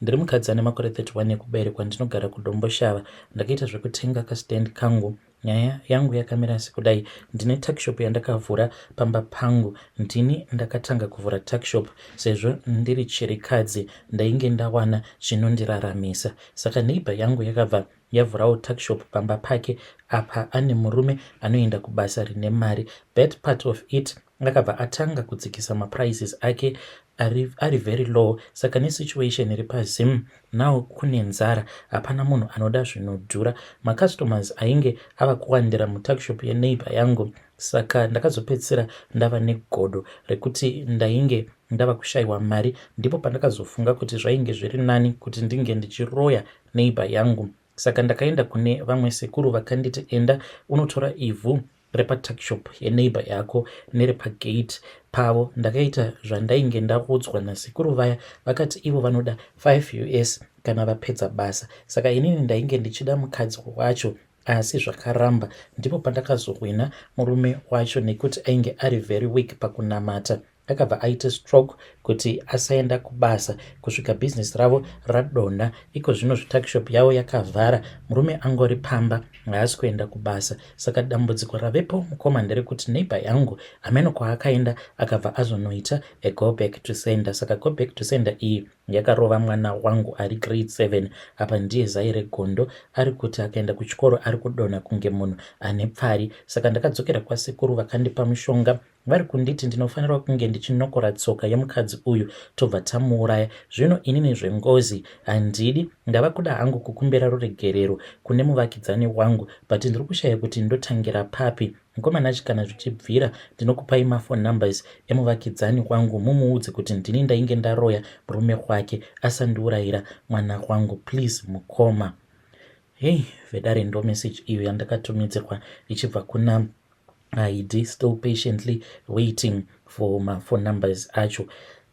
Ndiri mukadzi ane makore 31 ekuberekwa ndinogara kuDomboshava. Ndakaita zvekutenga kastand kangu. Nyaya yangu yakamira sekudai, ndine tuckshop yandakavhura pamba pangu. Ndini ndakatanga kuvhura tuckshop sezvo ndiri chirikadzi ndainge ndawana chinondiraramisa. Saka neighbor yangu yakabva yavhurawo tuckshop pamba pake apa ane murume anoenda kubasa rine mari. Bad part of it akabva atanga kudzikisa maprices ake ari, ari very low saka nesituation iri pazim now kune nzara hapana munhu anoda zvinodhura macustomers ainge ava kuwandira mutuckshop yeneighbor yangu saka ndakazopedzisira ndava negodo rekuti ndainge ndava kushaiwa mari ndipo pandakazofunga kuti zvainge zviri nani kuti ndinge ndichiroya neighbor yangu Saka ndakaenda kune vamwe sekuru vakanditi enda unotora ivhu repatuckshop yeneighbor yako nerepagate pavo. Ndakaita zvandainge ndaudzwa nasekuru vaya vakati ivo vanoda 5 us kana vapedza basa. Saka inini ndainge ndichida mukadzi wacho asi zvakaramba. Ndipo pandakazohwina murume wacho nekuti ainge ari very weak pakunamata. akabva aita stroke kuti asaenda kubasa kusvika business ravo radonha iko zvino zvitakishop yavo yakavhara murume angori pamba haasi kuenda kubasa saka dambudziko ravepo mukoma nderekuti neighbor yangu hameno kwaakaenda akabva azonoita a go back to sender saka go back to sender iyi yakarova mwana wangu ari grade 7 apa ndiye zai regondo ari kuti akaenda kuchikoro ari kudonha kunge munhu ane pfari saka ndakadzokera kwasekuru vakandipa mushonga vari kunditi ndinofanirwa kunge ndichinokora tsoka yemukadzi uyu tobva tamuuraya zvino inini zvengozi handidi ndava kuda hangu kukumbira ruregerero kune muvakidzani wangu but ndiri kushaya kuti ndotangira papi mukomana chi kana zvichibvira ndinokupai mafon numbers emuvakidzani wangu mumuudze kuti ndini ndainge ndaroya murume wake asandiurayira mwana wangu please mukoma hei vedare ndo message iyo yandakatumidzirwa ichibva kuna haidi still patiently waiting for maphone numbers acho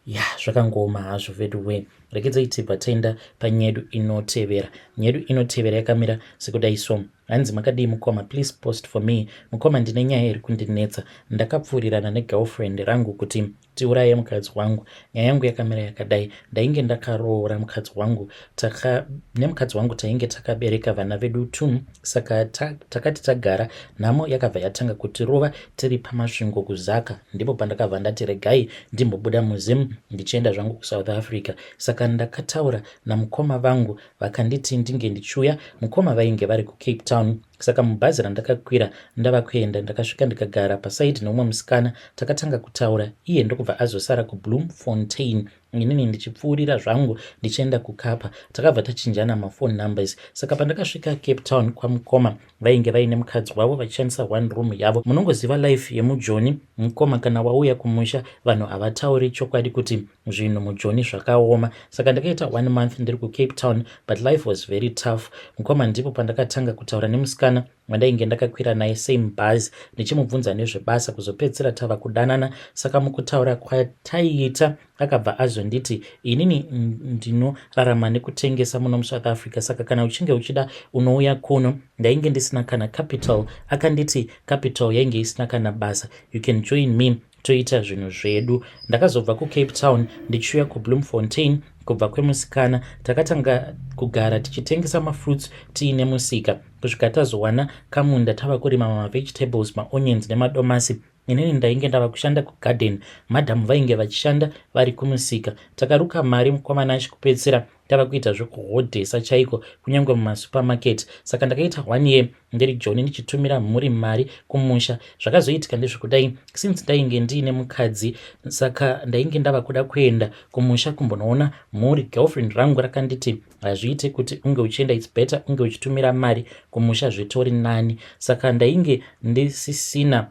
ya zvakangooma hazvo vedu wee rekedzai tibva taenda panyedu inotevera nyedu inotevera yakamira sekudai so hanzi makadii mukoma please post for me mukoma ndine nyaya iri kundinetsa ndakapfuurirana negirlfriend rangu kuti tiuraye mukadzi wangu nyaya yangu yakamira yakadai ndainge ndakaroora mukadzi wangu taka nemukadzi wangu tainge takabereka vana vedu tu saka ta, takati tagara nhamo yakabva yatanga kutirova tiri pamasvingo kuzaka ndipo pandakabva ndati regai ndimbobuda muzim ndichienda zvangu kusouth africa saka ndakataura namukoma vangu vakanditi ndinge ndichiuya mukoma vainge vari kucape town saka mubhazi randakakwira ndava kuenda ndakasvika ndikagara pasaidi neumwe musikana takatanga kutaura iye ndokubva azosara kubloom fontain inini ndichipfuurira zvangu ndichienda kukapa takabva tachinjana mafone numbers saka pandakasvika cape town kwamukoma vainge vaine mukadzi wavo vachishandisa one room yavo munongoziva life yemujoni mukoma kana wauya kumusha vanhu havatauri chokwadi kuti zvinhu mujoni zvakaoma saka ndakaita one month ndiri kucape town but life was very tough mukoma ndipo pandakatanga kutaura nemusikana wandainge ndakakwira naye same bhazi ndichimubvunza nezvebasa kuzopedzisira tava kudanana saka mukutaura kwataiita akabva azonditi inini ndinorarama nekutengesa muno musouth africa saka kana uchinge uchida unouya kuno ndainge ndisina kana capital akanditi capital yainge isina kana basa you can join me toita zvinhu zvedu ndakazobva kucape town ndichiuya kubloemfontein kubva kwemusikana takatanga kugara tichitengesa mafruits tiine musika kusvika tazowana kamunda tava kurima mavegetables maonions nemadomasi inini ndainge ndava kushanda kugarden madam vainge vachishanda vari kumusika takaruka mari mukwamanashe kupedzisira tava kuita zvekuhodhesa chaiko kunyange mumasupermarket saka ndakaita one year ndiri joni ndichitumira mhuri mari kumusha zvakazoitika ndezvekudai since ndainge ndiine mukadzi saka ndainge ndava kuda kuenda kumusha kumbonoona mhuri girlfriend rangu rakanditi hazviite kuti unge uchienda its better unge uchitumira mari kumusha zvitori nani saka ndainge ndisisina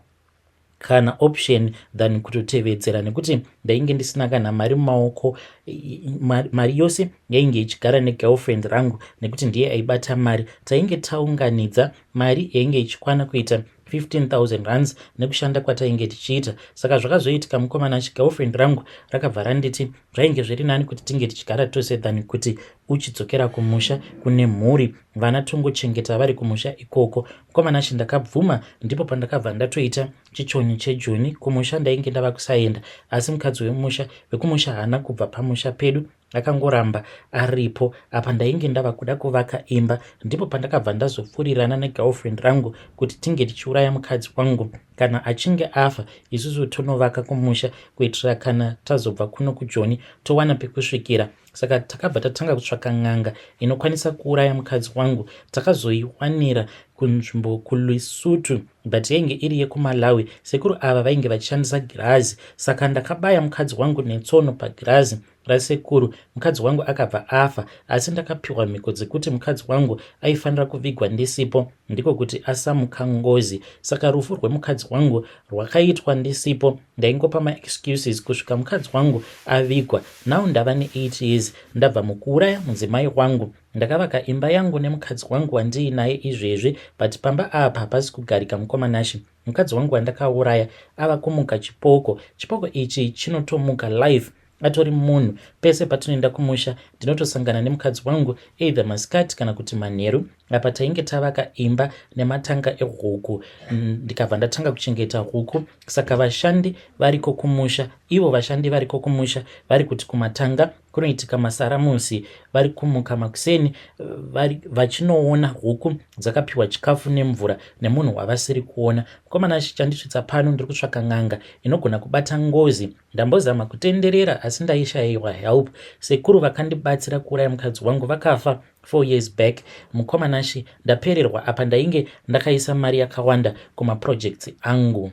kana option than kutotevedzera nekuti ndainge ndisina kana mari mumaoko mari yose yainge ichigara negirlfriend rangu nekuti ndiye aibata mari tainge taunganidza mari yainge ichikwana kuita 15000 rands nekushanda kwatainge tichiita saka zvakazoitika mukomana chigirlfriend rangu rakabva randiti zvainge zviri nani kuti tinge tichigara tose than kuti uchidzokera kumusha kune mhuri vana tongochengeta vari kumusha ikoko mukomana she ndakabvuma ndipo pandakabva ndatoita chichonyi chejoni kumusha ndainge ndava kusaenda asi mukadzi wemusha vekumusha haana kubva pamusha pedu akangoramba aripo apa ndainge ndava kuda kuvaka imba ndipo pandakabva ndazopfurirana negirlfriend rangu kuti tinge tichiuraya mukadzi wangu kana achinge afa isusu tonovaka kumusha kuitira kana tazobva kuno kujoni towana pekusvikira saka takabva tatanga kutsvaka n'anga inokwanisa kuuraya mukadzi wangu takazoiwanira kunzvimbo kulesutu but yainge iri yekumalawi sekuru ava vainge vachishandisa girazi saka ndakabaya mukadzi wangu netsono pagirazi rasekuru mukadzi wangu akabva afa asi ndakapiwa mhiko dzekuti mukadzi wangu aifanira kuvigwa ndisipo ndiko kuti asamuka ngozi saka rufu rwemukadzi wangu rwakaitwa ndisipo ndaingopa maexcuses kusvika mukadzi wangu avigwa now ndava ne8 years ndabva mukuuraya mudzimai wangu ndakavaka imba yangu nemukadzi wangu wandiinaye izvezvi but pamba apa hapasi kugarika mukomanashi Mukadzi wangu wandakauraya ava kumuka chipoko. Chipoko ichi chinotomuka life atori munhu. Pese patinoenda kumusha ndinotosangana nemukadzi wangu either masikati kana kuti manheru. Apa tainge tavaka imba nematanga ehuku ndikabva ndatanga kuchengeta huku. Saka vashandi variko kumusha, ivo vashandi variko kumusha vari kuti kumatanga Kunoitika masaramusi vari kumuka makuseni vari vachinoona huku dzakapiwa chikafu nemvura nemunhu wavasiri kuona. Mukomana achi chandisvitsa pano ndiri kutsvaka n'anga inogona kubata ngozi. Ndambozama kutenderera asi ndaishaiwa help. Sekuru vakandibatsira kuuraya mukadzi wangu vakafa four years back. Mukomana achi ndapererwa apa ndainge ndakaisa mari yakawanda kumaprojects angu.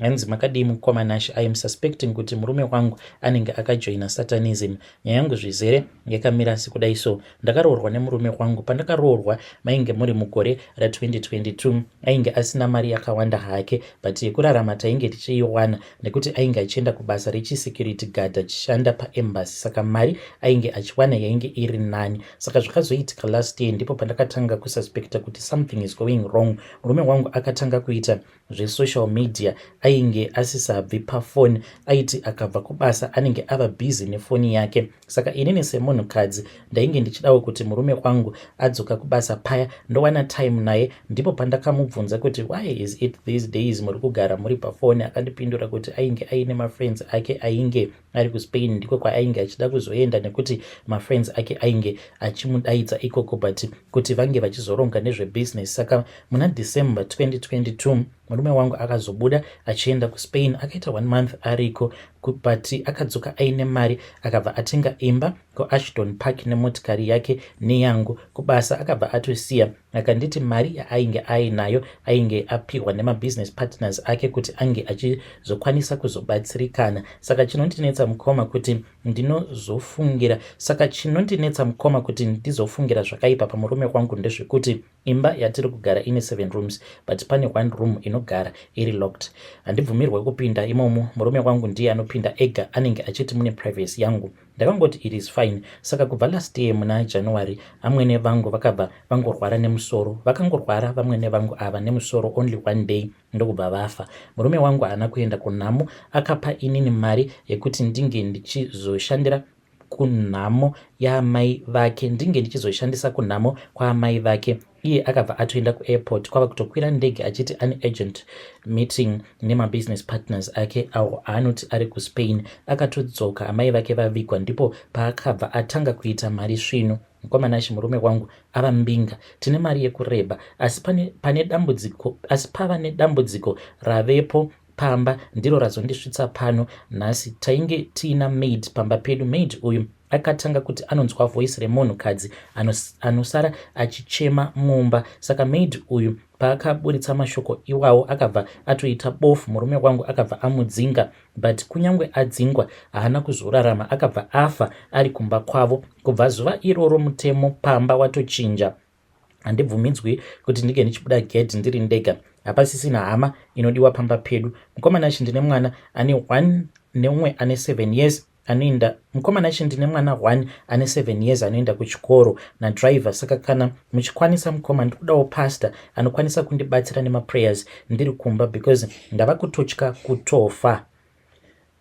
Hanzi makadii mukoma Nash, I am suspecting kuti murume wangu anenge akajoina satanism. Nyaya yangu zvizere yakamira asi kudai so. Ndakaroorwa nemurume wangu, pandakaroorwa mainge muri mugore ra 2022. Ainge asina mari yakawanda hake but yekurarama tainge tichiiwana nekuti ainge achienda kubasa rechi security guard achishanda pa embassy saka mari ainge achiwana yainge iri nani. Saka zvakazoitika last year ndipo pandakatanga kususpecta kuti something is going wrong. Murume wangu akatanga kuita zvesocial media ainge asisabvi pafoni aiti akabva kubasa anenge ava busy nefoni yake saka inini semunhukadzi ndainge ndichidawo kuti murume wangu adzoka kubasa paya ndowana time naye ndipo pandakamubvunza kuti why is it these days muri kugara muri pafoni akandipindura kuti ainge aine mafriends ake ainge ari kuspain ndiko kwaainge achida kuzoenda nekuti mafriends ake ainge achimudaidza ikoko but kuti vange vachizoronga nezvebusiness saka muna december 2022 murume wangu akazobuda achienda kuspain akaita one month ariko but akadzoka aine mari akabva atenga imba kuashton park nemotikari yake neyangu kubasa akabva atosiya akanditi mari yaainge ainayo ainge apihwa nemabusiness partners ake kuti ange achizokwanisa kuzobatsirikana saka chinondinetsa mukoma kuti ndinozofungira saka chinondinetsa mukoma kuti ndizofungira zvakaipa pamurume wangu ndezvekuti imba yatiri kugara ine seven rooms but pane one room inogara iri locked handibvumirwe kupinda imomo murume wangu ndiye anopinda ega anenge achiti mune privacy yangu Ndakangoti it is fine. Saka kubva last year muna January amwene vangu vakabva vangorwara nemusoro. Vakangorwara vamwene vangu ava nemusoro only one day ndokubva vafa. Murume wangu haana kuenda kunhamo akapa inini mari yekuti ndinge ndichizoshandira kunhamo yaamai vake ndinge ndichizoshandisa kunhamo kwaamai vake iye akabva atoenda kuairport kwava kutokwira ndege achiti ane agent meeting nemabusiness partners ake awo aanoti ari kuspain akatodzoka amai vake vavigwa ndipo paakabva atanga kuita mari svinu mkomanashe murume wangu ava mbinga tine mari yekureba asi pane, pane dambudziko asi pava nedambudziko ravepo pamba ndiro razondisvitsa pano nhasi tainge tiina maid pamba pedu maid uyu akatanga kuti anonzwa voice remunhu kadzi anos, anosara achichema mumba saka maid uyu paakaburitsa mashoko iwawo akabva atoita bofu murume wangu akabva amudzinga but kunyange adzingwa haana kuzorarama akabva afa ari kumba kwavo kubva zuva iroro mutemo pamba watochinja handibvumidzwi kuti ndinge ndichibuda gedhi ndiri ndega hapasisina hama inodiwa pamba pedu mukoma nashi ndine mwana ane one neumwe ane seven years anoenda mukoma nashi ndine mwana one ane seven years anoenda kuchikoro nadriver saka kana muchikwanisa mukoma ndikudawo pastor anokwanisa kundibatsira nemaprayers ndiri kumba because ndava kutotya kutofa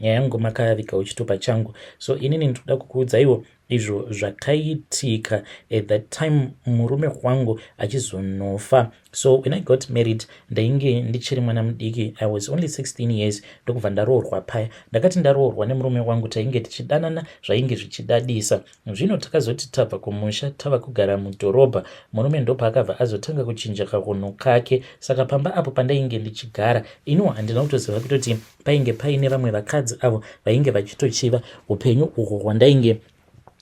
nyaya yangu makavika uchito pachangu so inini ndikuda kukuudzaiwo izvo zvakaitika at that time murume wangu achizonofa so when i got married ndainge ndichiri mwana mudiki i was only 16 years ndokubva ndaroorwa paya ndakati ndaroorwa nemurume wangu tainge tichidanana zvainge zvichidadisa zvino takazoti tabva kumusha tava kugara mudhorobha murume ndopaakabva azotanga kuchinja kahunhu kake saka pamba apo pandainge ndichigara iniwo handina kutoziva kutoti painge paine vamwe vakadzi avo vainge vachitochiva upenyu uhwo hwandainge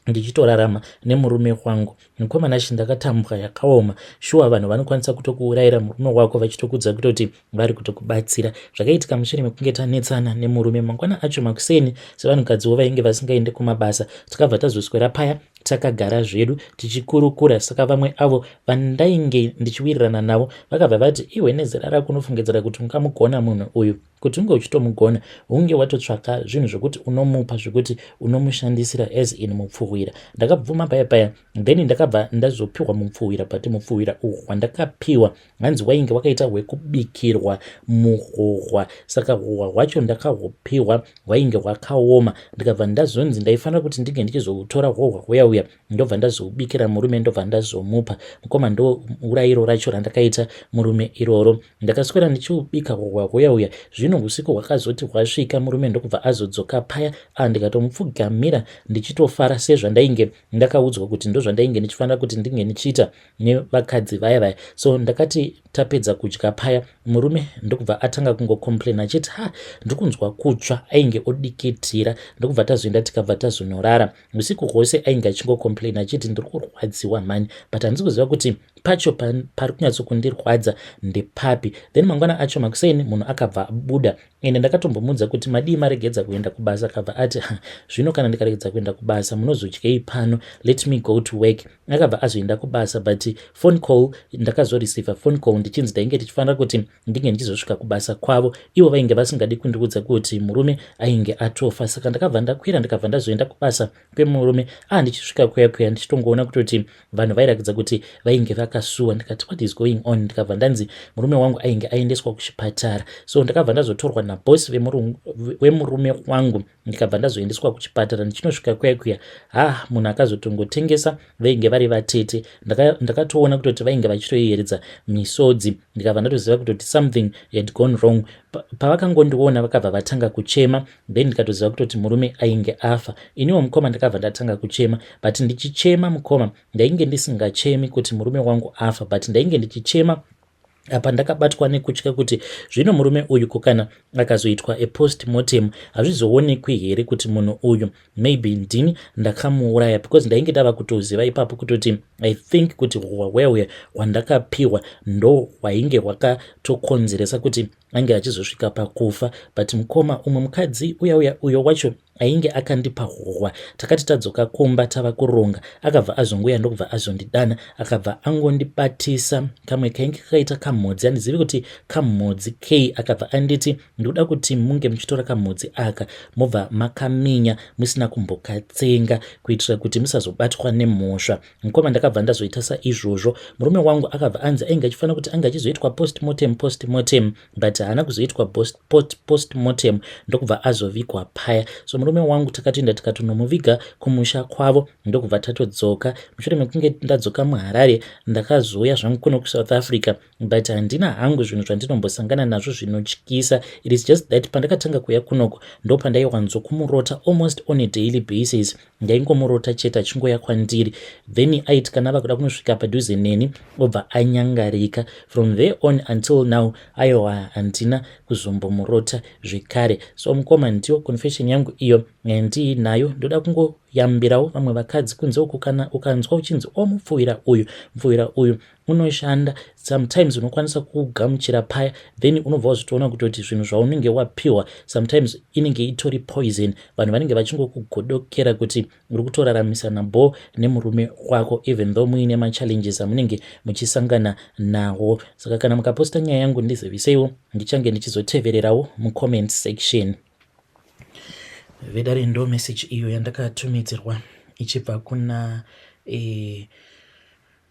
ndichitorarama nemurume wangu mukomana shi ndakatambwa yakaoma shuwa vanhu vanokwanisa kutokuurayira murume wako vachitokudza kutoti vari kutokubatsira zvakaitika mushure mekunge tanetsana nemurume mangwana acho makuseni sevanhukadziwo vainge vasingaende kumabasa takabva tazoswera paya takagara zvedu tichikurukura saka vamwe avo vandainge ndichiwirirana navo vakabva vati iwe nezera rako unofungidzira kuti ungamugona munhu uyu kuti unge uchitomugona unge watotsvaka zvinhu zvekuti unomupa zvekuti unomushandisira as in mupfuhwira ndakabvuma paya paya then ndakabva ndazopiwa mupfuhwira but mupfuhwira uhu hwandakapiwa Hanzi wainge wakaita hwekubikirwa muhohwa saka hohwa hwacho ndakahupihwa hwainge hwakaoma ndikabva ndazonzi ndaifanira kuti ndinge ndichizohutora hohwa huya uya ndobva ndazoubikira murume ndobva ndazomupa mukoma ndourairo racho randakaita murume iroro ndakaswera ndichiubika hohwa huya uya zvino usiku hwakazoti hwasvika murume ndokubva azodzoka paya a ah, ndikatomupfugamira ndichitofara sezvandainge ndakaudzwa kuti ndozvandainge ndichifanira kuti ndinge ndichiita nevakadzi vaya vaya so ndakati tapedza kudya paya murume ndokubva atanga kungocomplaina achiti ha ndikunzwa kutsva ainge odikitira ndokubva tazoenda tikabva tazonorara usiku hwose ainge achingocomplaina achiti ndiri kurwadziwa mhani but handisi kuziva kuti pacho pari kunyatsokundirwadza ndepapi then mangwana acho makuseni munhu akabva abuda ende ndakatombomuudza kuti madii maregedza kuenda kubasa akabva ati zvino kana ndikaregedza kuenda kubasa munozodyei pano let me go to work akabva azoenda kubasa but phone call ndakazoreceiver phone call ndichinzi tainge tichifanira kuti ndinge ndichizosvika kubasa kwavo ivo vainge vasingadi kundiudza kuti murume ainge atofa saka ndakabva ndakwira ndikabva ndazoenda kubasa kwemurume ah ndichisvika kuya kuya ndichitongoona kutoti vanhu vairakidza kuti vainge vakasuwa ndikati what is going on ndikabva ndanzi murume wangu ainge aendeswa kuchipatara so ndakabva ndazotorwa nabosi wemurume wangu ndikabva ndazoendeswa kuchipatara ndichinosvika kuya kuya ha munhu akazotongotengesa vainge vari vatete ndakatoona kutoti vainge vachitoyeredza misodzi ndikabva ndatoziva kutoti something had gone wrong pavakangondiona vakabva vatanga kuchema then ndikatoziva kutoti murume ainge afa iniwo mukoma ndakabva ndatanga kuchema but ndichichema mukoma ndainge ndisingachemi kuti murume wangu afa but ndainge ndichichema apa ndakabatwa nekutya kuti zvino murume uyu ko kana akazoitwa epost mortem hazvizoonekwi here kuti munhu uyu maybe ndini ndakamuuraya because ndainge ndava kutoziva ipapo kutoti i think kuti hwaweuya hwandakapiwa ndo hwainge hwakatokonzeresa kuti ange achizosvika pakufa but mukoma umwe mukadzi uya uya uyo wacho ainge akandipa hohwa takati tadzoka kumba tava kuronga akabva azonguya ndokubva azondidana akabva angondibatisa kamwe kainge kakaita kamhodzi andizivi kuti kamhodzi kei akabva anditi ndikuda kuti munge muchitora kamhodzi aka mobva makaminya musina kumbokatsenga kuitira kuti musazobatwa nemhosva mukoma ndakabva ndazoita saizvozvo murume wangu akabva anzi ainge achifanira kuti ange achizoitwa postmortem postmortem but haana kuzoitwa postmortem ndokubva azovigwa paya so murume wangu takatoenda tikatonomuviga kumusha kwavo ndokubva tatodzoka mushure mekunge ndadzoka muharare ndakazouya zvangu kuno kusouth africa but handina hangu zvinhu zvandinombosangana nazvo zvinotyisa it is just that pandakatanga kuya kunoko ndopandaiwanzokumurota almost on a daily basis ndaingomurota chete achingouya kwandiri then ait kana ava kuda kunosvika padhuze neni obva anyangarika from there on until now aiwa handina kuzombomurota zvekare so mukoma ndiyo confession yangu iyo ndiinayo ndoda kungoyambirawo vamwe vakadzi kunze uku kana ukanzwa uchinzi omupfuwira oh, uyu mupfuwira uyu unoshanda sometimes unokwanisa kugamuchira paya then unobva wazvitoona kutoti zvinhu zvaunenge wapiwa sometimes inenge itori poison vanhu vanenge vachingokugodokera kuti uri kutoraramisana bo nemurume wako even though muine machallenges amunenge muchisangana nawo saka kana mukaposta nyaya yangu ndiziviseiwo ndichange ndichizotevererawo mucomment section vedare ndo message iyo yandakatumidzirwa ichibva kuna eh,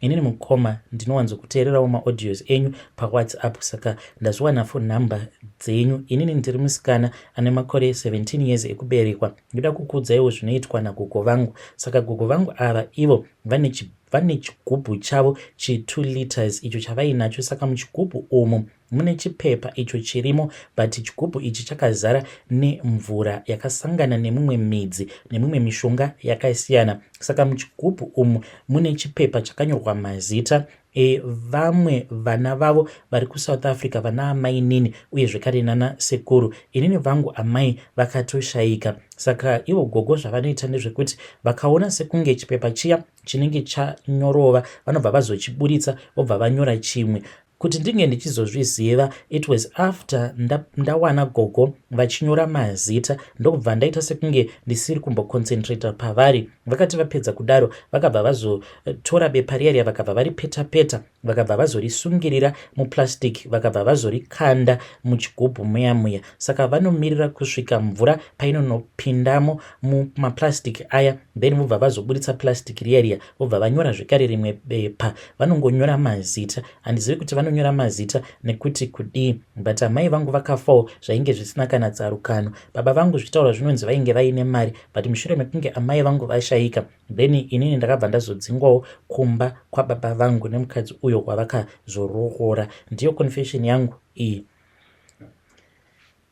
Inini mukoma ndinowanzokuteererawo maaudios enyu pawhatsapp saka ndazviwana phone number dzenyu. Inini ndiri musikana ane makore 17 years ekuberekwa. Ndoda kukuudzaiwo zvinoitwa nagogo vangu. Saka gogo vangu ava ivo vane chi vane chigubhu chavo chi 2 liters icho chavainacho saka muchigubhu umu Mune chipepa icho chirimo but chigubhu ichi chakazara nemvura yakasangana nemumwe midzi nemimwe mishonga yakasiyana saka muchigubhu umu mune chipepa chakanyorwa mazita evamwe vana vavo vari kusouth africa vana amainini uye zvekare nana sekuru inini vangu amai vakatoshayika saka ivo gogo zvavanoita ndezvekuti vakaona sekunge chipepa chiya chinenge chanyorova vanobva vazochiburitsa vobva vanyora chimwe Kuti ndinge ndichizozviziva it was after nda, ndawana gogo vachinyora mazita ndokubva ndaita sekunge ndisiri kumboconcentrata pavari. Vakati vapedza kudaro vakabva vazotora eh, bepa riya riya vakabva varipeta peta vakabva vazorisungirira muplastic vakabva vazorikanda muchigubhu muya muya. Saka vanomirira kusvika mvura painonopindamo mumaplastic aya then vobva vazoburitsa plastic riya riya vobva vanyora zvekare rimwe bepa vanongonyora mazita handizivi kuti vanonyora mazita nekuti kudii but amai vangu vakafawo zvainge zvisina kana tsarukano baba vangu zvichitaura zvinonzi vainge vaine mari but mushure mekunge amai vangu vashaika then inini ndakabva ndazodzingwawo kumba kwababa vangu nemukadzi uyo wavakazoroora ndiyo confession yangu iyi